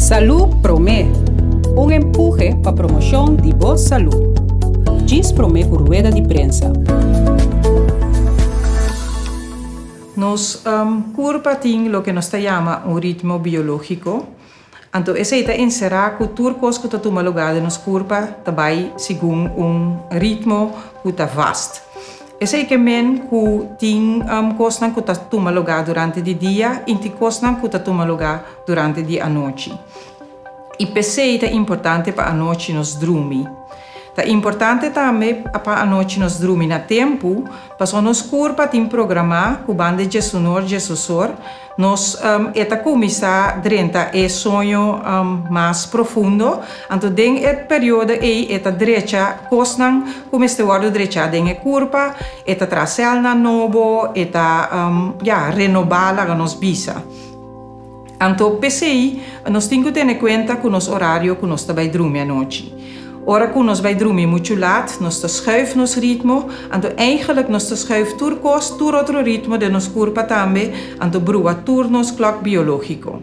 Salú Promé, Un empuje pa promoshon di bo salú. Djis promé ku rueda di prensa. Nos kurpa tin loke nos ta yama un ritmo biológiko, anto esei ta enserá ku tur kos ku ta tuma lugá den nos kurpa ta bai segun un ritmo ku ta vast. Esei ke men ku tin kosnan ku ta tuma lugá durante di dia i tin kosnan ku ta tuma lugá durante di anochi. I p'esei ta importante pa anochi nos drumi. Ta importante tambe pa anochi nos drumi na tempu, pasobra nos kurpa tin programá ku banda Djesunor, Djesusor, Nos e ta kuminsá drenta e soño mas profundo, anto den e periodo ei e ta drecha kosnan ku mester wòrdu drechá den e kurpa, e ta traha sèlnan nobo, e ta, ya, renobá, laga nos bisa. Anto p'esei nos tin ku tene kuenta ku nos orario ku nos ta bai drumi anochi. Ora cu nos bay drumi muchu laat, nos ta schuif nos ritmo, anto eigenlijk nos ta schuif tur cos, tur otro ritmo den nos curpa tambe, anto brua tur nos clock biologico.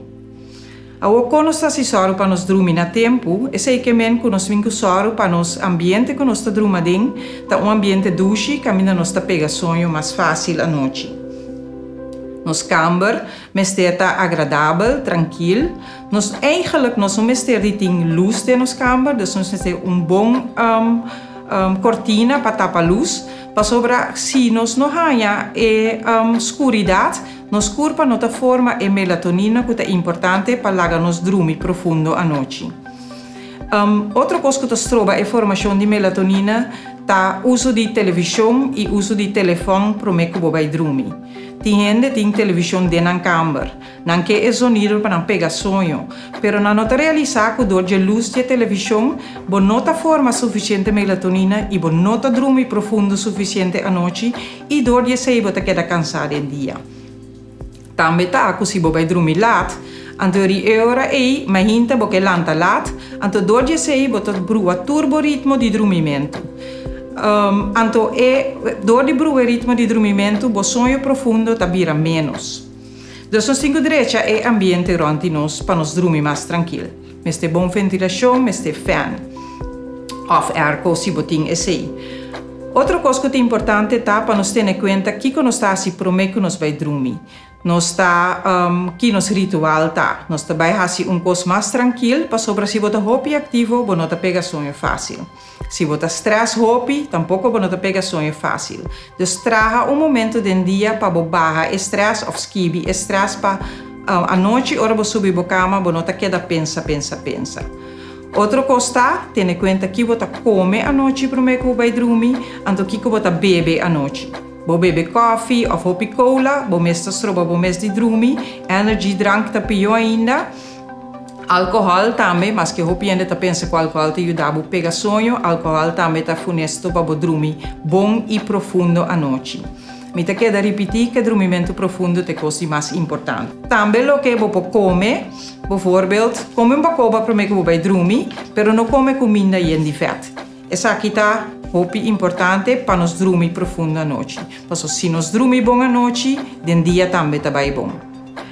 Awo con nos ta haci soro pa nos drumi na tempu, esey ke men cu nos min cu soro pa nos ambiente cu nos ta druma den ta un ambiente dushi caminda nos ta pega soño mas facil anochi. Nos camber mester ta agradabel, trankil, Nos eigenlijk nos no mester di tin lus den nos kamber, dus nos mester un bon kortina pa tapa lus, pasobra si nos no haña e skuridat, nos kurpa no ta forma e melatonina ku ta importante pa laga nos drumi profundo anochi. Otro kos ku ta stroba e formashon di melatonina ta uso di televishon i uso di telefòn promé ku bo bai drumi. Tin hende tin televishon den nan kamber. Nan ke e zonido pa nan pega soño, pero nan no ta realisá ku dor dje lus dje televishon bo no ta forma sufisiente melatonina i bo no ta drumi profundo sufisiente anochi i dor di esei bo ta keda kansá den dia. Tambe ta ku si bo bai drumi lat, anto ri e ora ei mai hinter bo ke lanta lat, anto dor di esei bo ta brua tur bo ritmo di drumimentu. Anto e dor di brua e ritmo di drumimentu bo soño profundo ta bira ménos. Nos no tin ku drecha e ambiente rònt di nos pa nos drumi mas trankil. Mester bon ventilashon, mester fèn òf airco si bo tin esei. Otro kos ku ta importante ta pa nos tene kuenta kiko nos ta hasi promé ku nos bai drumi. Nos ta Ki nos ritual ta. Nos ta bai hasi un kos mas trankil pasobra si bo ta hopi aktivo bo no ta pega sueño fásil. Si bo ta strès hopi, tampoko bo no ta pega soño fásil. Dus traha un momento den dia pa bo baha e strès òf skibi e strès pa anochi ora bo subi bo kama bo no ta keda pensa, pensa, pensa. Otro kos ta, tene kuenta ki bo ta kome anochi promé ku bo bai drumi, anto kiko bo ta bebe anochi. Bo bebe kòfi òf hopi kola, bo mes ta stroba bo mes di drumi, energy drank ta pió ainda. Alkohòl tambe, Maske hopi hende ta pensa ku alkohòl ta yuda bo pega soño, alkohòl tambe ta funesto pa bo drumi bon i profundo anochi. Mi ta keda ripití ku e drumimentu profundo ta e kos di mas importante. Tambe loke bo por kome, bovorbeld, kome un bakoba promé ku bo bai drumi, pero no kome kuminda yen di vèt. Esaki ta hopi importante pa nos drumi profundo anochi. Pasobra si nos drumi bon anochi, den dia tambe ta bai bon.